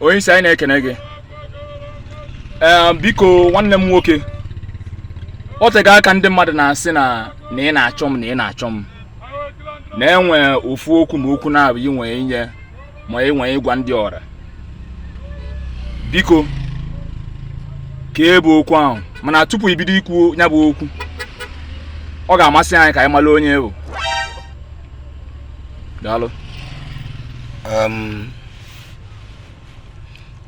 onye isi anyị na-ekene gị ee biko nwanne m nwoke o tego aka ndị mmadụ na-asị m na ị na-achọ m na ị na-achọ m na i nwee ofu okwu ma okwu naabọ i nwe inye ma i nwe ịgwa ndị ọra biko kee bụ okwu ahụ mana tupu i bido ikwu ya bụ okwu ọ ga-amasị anyị ka anyị mara onye ị bụ daalụ um,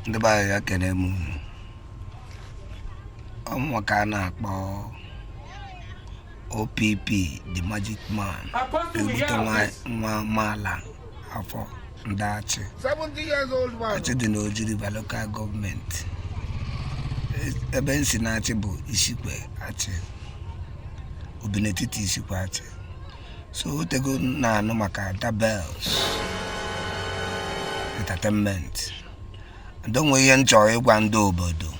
ndị be anyị ya kene m ọ mụwa ka a na-akpọ OPP the magic man ebute nwa amaala afọ ndị Achi Achi dị n'Oji River local gọọmenti ebe m si n'Achi bụ Isikwe Achi Obinetiti Isikwe Achi so o tego m na-anụ maka Dabels entertainment and e nwe ihe m chọrọ ịgwa ndị obodo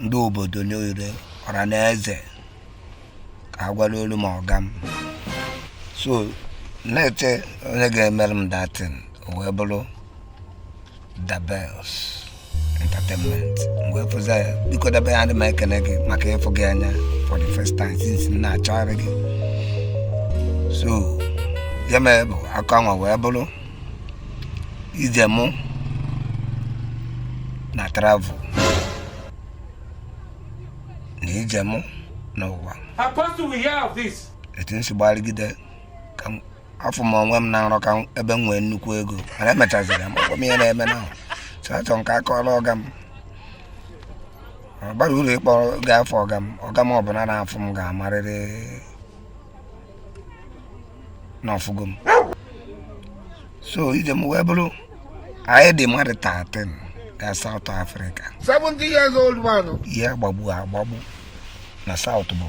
ndị obodo niile ọra na eze ka a gwara olu m ọga m so na-eche onye ga-emere m that thing o wee bụrụ Dabels entertainment m wee fụzia ya biko Dabels adị m ekene gị maka ịfụ gị anya for the first time since m na-achọgharị gị so ya mere bụ akọ anwa wee bụrụ ije mụ na travel na ije mụ n'ụwa etu m si gbarịgide ka m afụ m onwe m na nrọ ka ebe m nwee nnukwu ego mana emechaziri m ọ gwa m ihe na-eme na so achọrọ m ka akọọla ọga m ọ bara uru ịkpọ ga afụ ọga m ọga m ọbụla na-afụ m ga-amarịrị na ọ fụgo m so ije m wee bụrụ anyị dị mmadụ 13 gaa South Africa 70 years old man ihe agbagbu agbagbu na South bụ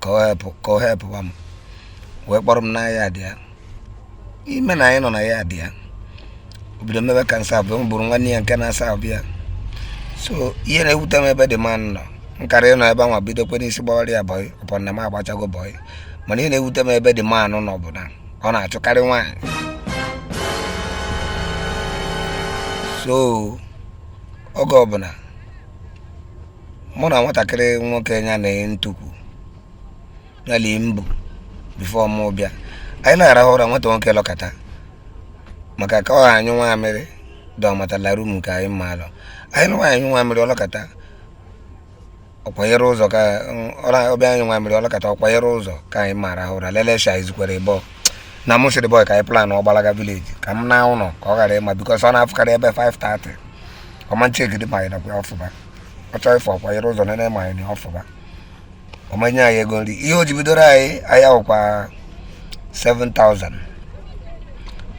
ka ọ helpụ ka ọ helpụba m wee kpọrọ m na yard ya ime na anyị nọ na yard ya o bido mebe ka m servuo m bụrụ nwanne ya nke na-aserve ya so ihe na-ewute m ebe the man nọ m kara ịnọ ebe anwa bidokwa n'isi gbawara ya bọị upon na m agbachago bọị mana ihe na-ewute m ebe the man nọ bụ na ọ na-achụkarị nwaanyị so oge ọbụla mụ na nwatakịrị nwoke ya na ntukwu ya lie mbụ bifo mụ bịa anyị na-arahụ ụra nwata nwoke lọkata maka ka ọ ha anyụ nwa amịrị dọmatala rum nke anyị mma alọ anyị lụwa anyụ nwa amịrị ọ lọkata ọ kwanyere ụzọ ka ọ bịa anyụ nwa amịrị ọ lọkata ọ kwanyere ụzọ ka anyị mara ahụ ụra lelesha izukwere bọ na mụ sịrị bọị ka anyị plan ọgbalaga vileji ka m na ụlọ ka ọ ghara ịma bikọs ọ na-afụkarị ebe 5:30 ọma nchegide ma anyị nọkwa ọ fụba ọ chọọ ịfụ ọ kwanyere ụzọ nene ma anyị nọ ọ fụba ọ ma nye anyị ego nri ihe o ji bidoro anyị ahịa wụkwa 7000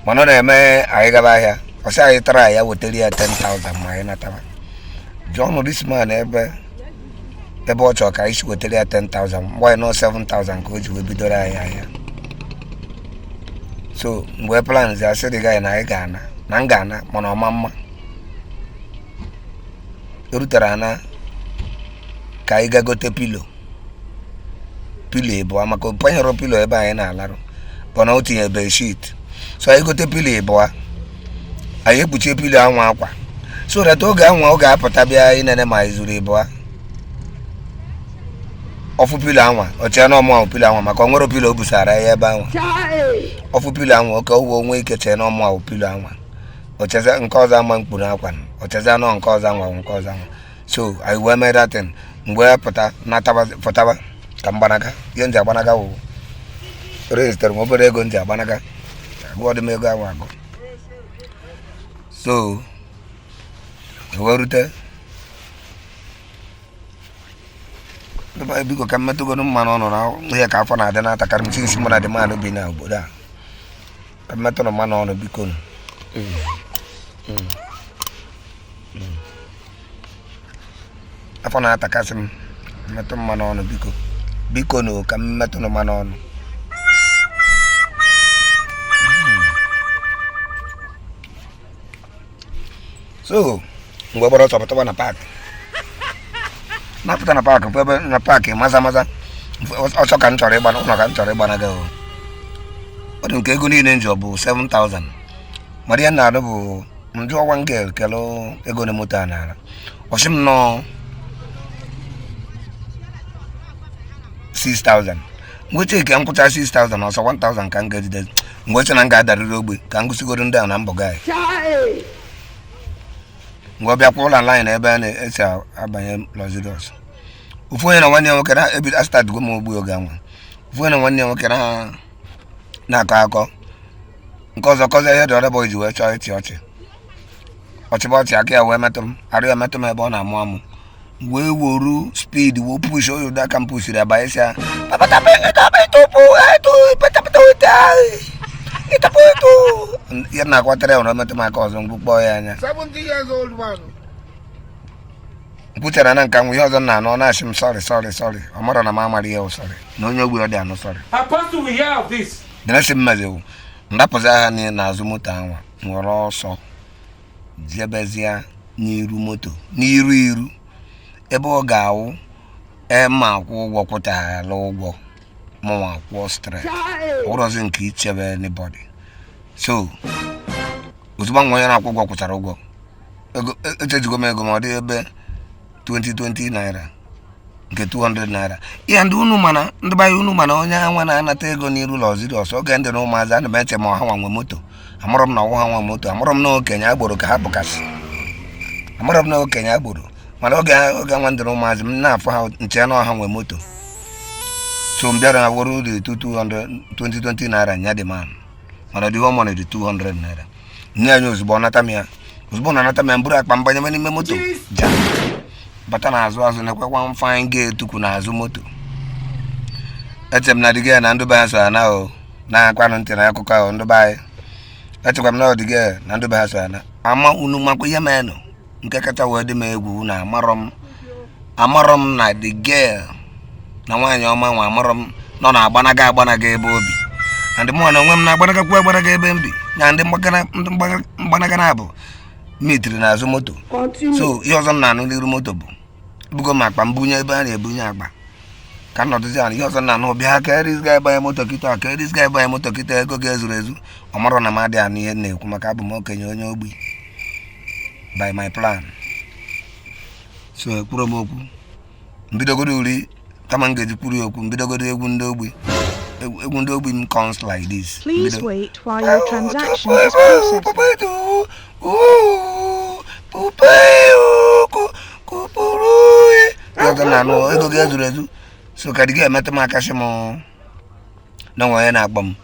mana ọ na-eme anyị gaba ahịa ọ sị anyị tara ya wetara ya 10000 ma anyị nataba jụọ nụ this man ebe ebe ọ chọrọ ka anyị si wetara ya 10000 mgbe anyị nọ 7000 ka o ji wee bidoro anyị ahịa so m wee planzie asị dị gị na anyị ga-ana na m ga-ana mana ọ ma ama erutere ana ka anyị ga gote pilo pilo ịbụa maka panyere pilo ebe anyị na-alarụ bọ na o tinye bedsheet so anyị gote pilo ịbụa anyị ekpuchie pilo anwa akwa so that oge anwa ọ ga-apụta bịa inene ma anyị zuru ịbụa ọ fụ pilo anwa o chee na ọ mụa wụ pilo anwa maka o nwere pilo o busara ya ebe anwa ọ fụ pilo anwa ka o wee nwee ike chee na ọ mụa wụ pilo anwa o chezia nke ọzọ anwa m kpuru akwa o chezia na ọ nke ọzọ anwa nke ọzọ anwa so anyị wee mee that thing m wee pụta pụtaba ka m gbanaga ihe m ji agbanaga wụ rezitere m obere ego m ji agbanaga agụọdị m ego ahụ agụ so e wee rute biko ka m metụgodu mmanụ ọnụ na ihe ka afọ na-adị na-atakarị m sinsi mụ na di m na-ebi na obodo a ka m metụrụ mmanụ ọnụ biko nụ. afọ na-atakasị m mmetụ mmanụ ọnụ biko biko nụ ka m metụrụ mmanụ ọnụ so m wee gbara ọsọ pụtawa na paakị napụta na paakị bụ ebe na paakị maza maza ọsọ ka m chọrọ ịgba ụlọ ka m chọrọ ịgbanaga ọ dị ka ego niile m ji bụ 7000 mara ihe na-arụ bụ m jụọ wa m ga-ekele ego one moto a na-ana ọ sị m na ọ 6000 m wee chekie m kwụcha 6000 ọ sọ 1000 ka m ga-ejide m wee chee na m ga-adarịrị ogbe ka m gosigoro ndị a na m bụ gaị m wee bịa kwụlụ laịnị na ebe a na-esi abanye luxurious ofu onye na nwanne ya nwoke na-ebi asịtadịgo m ogbu oge anwa ofu onye na nwanne ya nwoke na na-akọ akọ nke ọzọ kọzie ihe dị ọdọbọ ji wee chọọ ịchị ọchị ọchịba ọchị aka ya wee metụ m arụ ya metụ m ebe ọ na-amụ amụ wee woru speed wee push oyo da ka m pushiri ya banye sị ya na-akwatara ya ụra metụ m aka ọzọ m gbukpọọ ya anya m kwuchara na nka nwa ihe ọzọ m na-anụ na-asị m sorry sorry sorry ọ marọ na m amarọ ihe sorry na onye ogbi adị anụ sorry dịrịsị mmazewu ndapụzia ha niile n'azụ moto anwa were ọsọ jebezie n'iru moto n'iru iru ebe ọ ga-awụ ema akwụ ụgwọ kwụchara ụgwọ mụnwa akwụọ straight ọwụrọzi nke ichebe anybody so ozugbo nwa onye na-akwụ ụgwọ kwụchara ụgwọ echejigo m ego ma ọ dị ebe 2020 naira nke 200 naira ihe ndị unu mana ndị be anyị unu ma na onye anwa na-anata ego n'iru luxurious oge m dị na ụmụazị ana m eche ma ha nwa nwe moto amarọ m na ọwụrọ ha nwe moto amarọ m na okenye agboro ka ha bụkasị amarọ m na okenye agboro mana oge oge nwa m dị na ụmụazị m na-afụ ha m chee na ọ ha nwe moto so m bịara woro the 220 naira nye the man mana dị ọmọnụ the 200 naira nyenye ya ozugbo ọ nata m ya ozugbo ọ nata m ya m buru akpa m banyebe n'ime moto ja bata n'azụ azụ na-ekwekwa mfanye ga-etukwu n'azụ moto eche m na the girl ya na ndị be ya so ya na o na-akwanụ ntị na akụkọ ahụ ndị be anyị echekwa m na the girl ya na ndị be ya so ya na ama unu makwa ihe menụ nke kacha wee dị m egwu na amarọ m amarọ m na the girl na nwaanyị ọma nwa amarọ m na ọ na-agbanaga agbanaga ebe o bi na ndị mụnwa na onwe m na-agbanagakwu agbanaga ebe m bi na ndị mgbanaga naabọ meetiri n'azụ moto so ihe ọzọ m na-anụ n'iru moto bụ bugo m akpa m bunye ebe a na-ebunye akpa ka m nọdụzi ala ihe ọzọ m na-anụ bịa ka eris ga ebanye moto kịta ka eris ga ebanye moto kịta ego gị ezurọ ezu ọ marọ na m adịghị anụ ihe na-ekwu maka abụ m okenye onye ogbi by my plan so ekwurọ m okwu m bidogoro uri kama m ga-eji kwuru okwu m bidogoro egwu ndị ogbi egwu ndị ogbi m comes like this Please wait while your transaction is processing. ego gị ezurọ ezu so ka the girl metụ m aka sị m na nwa onye na-akpọ m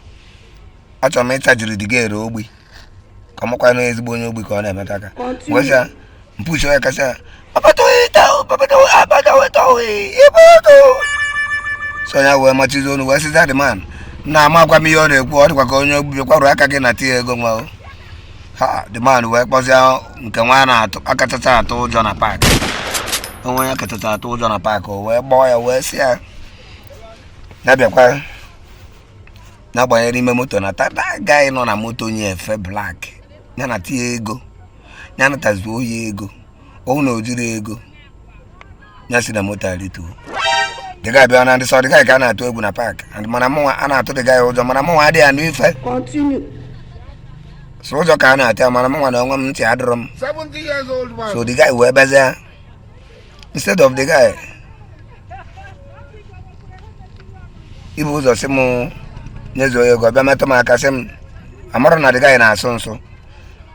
achọrọ m ịchajiri the girl ere ogbi ka ọ makwa na ezigbo onye ogbi ka ọ na-emetụ aka gwesa mpuchi onye kasị so ya wee mechizi ọnụ wee sịzia the man na amakwa m ihe ọ na-ekwu ọ dịkwa ka onye ogbi kwarụ aka gị natie ego nwa the man wee kpọzie nke nwa na-atụ a kachacha atụ ụjọ na park onye a kachacha atụ ụjọ na park o wee kpọọ ya wee sị ya na-abịakwa na-agbanyere ime moto na that guy nọ na moto onye efe black ya nata ego ya natazuo ego ọ wụ na o jirọ ego ya si na moto arịtuo the guy abịa na ọ dị sọ the guy ka a na-atụ egwu na park mana mụnwa a na-atụ the guy ụjọ mana mụnwa adịghị anụ ife so ụjọ ka a na-atụ ya mana mụnwa na onwe m ntị adịrọ m so the guy wee bịazie instead of the guy ibu ụzọ sị m nyezuo ego bịa metụ m aka sị m amarọ na the guy na-asụ nsụ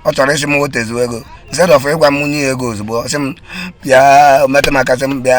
ọ chọrọ ịsị m wetezuo ego instead of ịgwa m nye ego ozugbo sị m bịa metụ m aka sị m bịa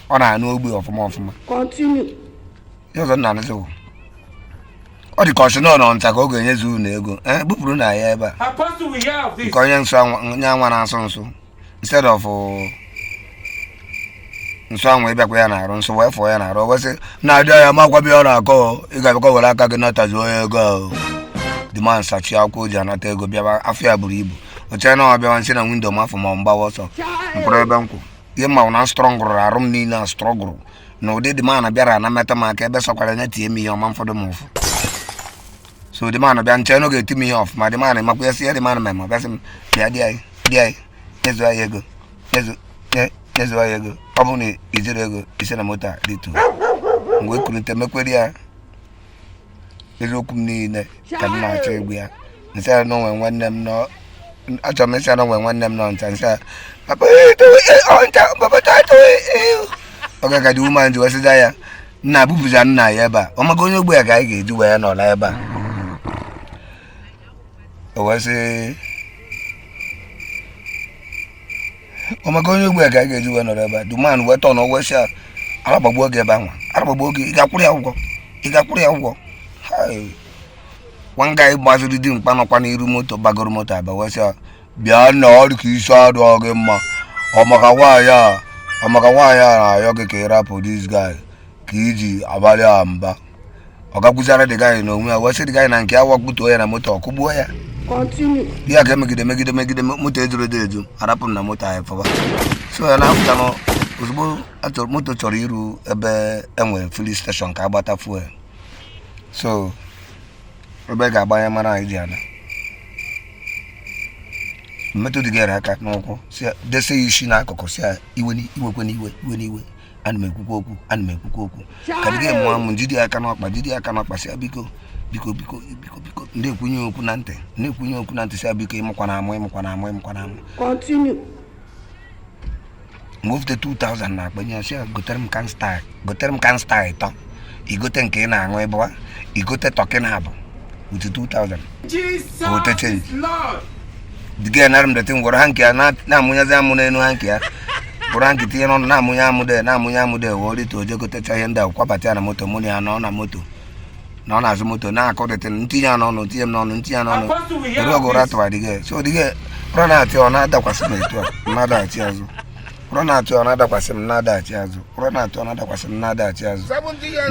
ọ na-anụ ogbe ọfụma ọfụma Continue. ihe ọzọ m na-anụzi bụ ọ dị ka ọchụ nọ n'ọnta ka ọ ga-enyezu unu ego ee bupụrụ na ya ebe a Apostle, we hear of this. nke onye nsụ anwa- onye anwa na-asụ nsụ instead of uh, nsụ anwa ịbịakwa ya n'arụ nsụ wee fụọ ya n'arụ o wee sị na-adị ya ma gwabịa ọ na-akọ o, ị ga-abịakwa were aka gị natazuo ya ego ahụ the man sachie akwụkwọ o ji anata ego bịaba afọ ya buru ibu o chere na ọ bịawa m si na window mafụ ma ọ m gbawa ọsọ m kwụrụ ebe m kwụ ihe m ma wụ na m strọngụrụ arụ m niile a strọngụrụ na ụdị the man a bịara na-emetụ m aka ebe sọkwara ya tie m ihe ọ ma afụ m ụfụ so the man abịa m chee na ọ ga-eti m ihe ọfụma the man a makwa ya si ya the man a mema bịa sị m bịa dị anyị dị anyị nyezu anyị ego nyezu nyezu anyị ego ọ bụrụ na i jirọ ego i si na moto a rịtuo mgbe ekurute m ekwere ya eziokwu m niile ka m na-achọ ịgwa ya m sị ya na o nwe nwanne m nọ achọrọ m ịsị ya na o nwe nwanne m nọ ncha m sị ya papa eh, towe, eh, ọ ncha papa towe, towe, eh." oge ka the woman ji wee sịza ya nna bupụza nna ya ebe a ọ maka onye ogbi a ka anyị ga-eji wee nọrọ ebe a o wee sị ọ maka onye ogbi a ka a ga-eji wee nọrọ ebe a the man wee turn wee sị ya ara gbagbuo gị ebe anwa ara gbagbuo gị ị ga-akwụrụ ya ụgwọ ị ga-akwụrụ ya ụgwọ one guy gbaziri dimkpa nọkwa n'iru moto gbagoro moto abịa wee sị ya bịa na ọ dị ka isi adịrọ gị mma ọ maka nwaanyị a ọ maka nwaanyị a na-ayọ gị ka ị rapụ this guy ka i ji abalị ya mba ọ gakwuzara the guy n'onwe ya wee sị the guy na nke ya wa kpụtuo ya na moto ọ kụgbuo ya ya ka e megide megide megide moto ejuru edo eju arapụ m na moto anyị fụba so ya na-apụta na ozugbo moto chọrọ iru ebe e nwere filling station ka a gbata fuel so ebe a ga-agbanye mmanụ anyị ji ana m metụ the guy aka n'ụkwụ dese ya isi n'akụkụ sị ya iwe n'iwe iwe n'iwe ana m ekwukwa okwu ana m ekwukwa okwu ka the guy mụọ amụ m jide ya aka n'ọkpa jide ya aka n'ọkpa sị ya biko biko biko biko biko m kwunye ya okwu na ntị m kwunye ya okwu na ntị sị ya biko amụkwana amụ amụkwana amụ amụkwana amụ m wefụte 2000 n'akpa nye ya sị ya gotere m can Star gotere m can Star ịtọ igote nke ị na-aṅụ ịbụwa igote tọkị na abụ with 2000 gote change the guy anara m that thing woro hanki ya na-amụnyazi amụ n'elu hanki ya buru hanki tinye n'ọnụ na-amụnye amụ de na-amụnye amụ de wee orite oje gotecha ihe ndị a kwabata ya na moto mụ na ya nọ na moto nọ n'azụ moto na-akọ that thing ntinye ya n'ọnụ tinye m n'ọnụ ntinye ya n'ọnụ ere ọgụ ụra atụwa the guy so the guy ụra na-atụ ọ na-adakwasị m etu a m na-adachi azụ ụra na-atụ ọ na-adakwasị m na-adaghachi azụ ụra na-atụ ọ na-adakwasị m na-adaghachi azụ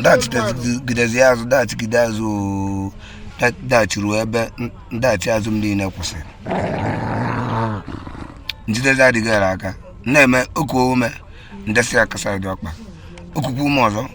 daghachigidezi azụ daghachigide azụ daghachi ruo ebe ndaghachi azụ m niile kwụsịrị m jidezie the guy aka n'imi o kuo ume m desị aka side ọkpa o kuku ume ọzọ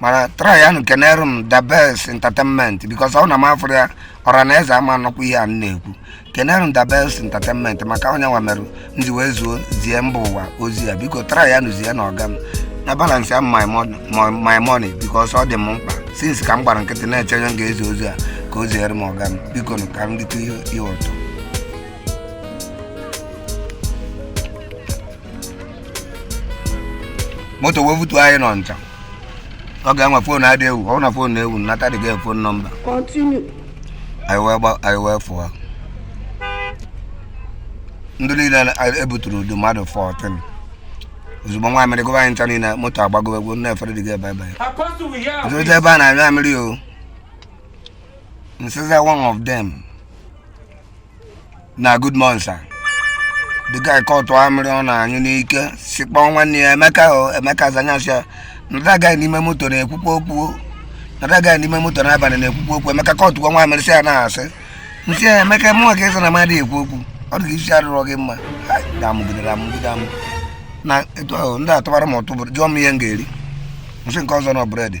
mana tryanụ kenere m the best entertainment because ọ na m afụrọ ya ọra na eze ama anụkwa ihe a m na-ekwu kenere m the best entertainment maka onye nwa merụ m ji wee zuo zie mba ụwa ozi a biko tryanụ zienụ ọga m na balance ya my mon- my- my money because ọ dị m mkpa since ka m gbara nkịtị na-eche onye m ga-ezi ozi a ka o ziere m ọga m biko nụ ka m dịte ihe ihe ụtọ moto wee butu anyị n'Ọnịcha oge ahụ nwa phone adị ewu ọ na phone na-ewu nata the guy phone number anyị wee fụọ ndị niile ebuturu ọ dụ mmadụ 14 ozugbo nwa amịrị gụba anyị ncha niile moto agbagobe egwu nna efere the guy ebe ebe ọzọta ebe a na-anyụ amịrị o nsiza one of them na good morning sir the guy kọtụ amịrị ọ na-anyụ n'ike si kpọọ nwanne ya emeka o emeka za nya sị ya na that guy n'ime moto na-ekwukwa okwu na that guy n'ime moto n'abalị na-ekwukwa okwu emeka kọtụkwa nwa amịrị sị ya na asị m sị ya emeka mụnwa ka ị sị na m adị ekwu okwu ọ dị ka isi arụrọ gị mma damụgidere amụgide amụ na etu ahụ ndị atụbara m ụtụ bụrụ jụọ m ihe m ga-eri m sị nke ọzọ na bread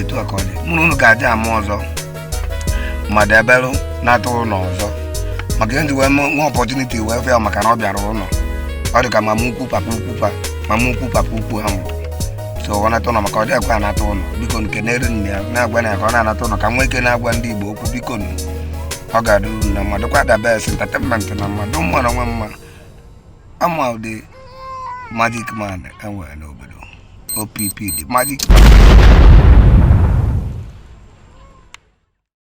etu a ka ọ dị mụ na unu ga-adị ama ọzọ ma deberụ nata ụlọ ọzọ maka ihe m ji wee nwe nwe opportunity wee fụ ya maka na ọ bịara ụlọ ọ dị ka mama ukwu papa ukwu pa mama ukwu papa ukwu ha nwụrụ so ọ nata ụlọ maka ọ dị ekwe anata ụlọ biko kenere nne ya na-agwa nya ka ọ na-anata ụlọ ka nwee ike na-agwa ndị Igbo okwu biko nụ ọ ga-adịru unu mma dịkwa the best entertainment mma dị m mma na nwa mma ama ụdị magic man enwere n'obodo opp the magic man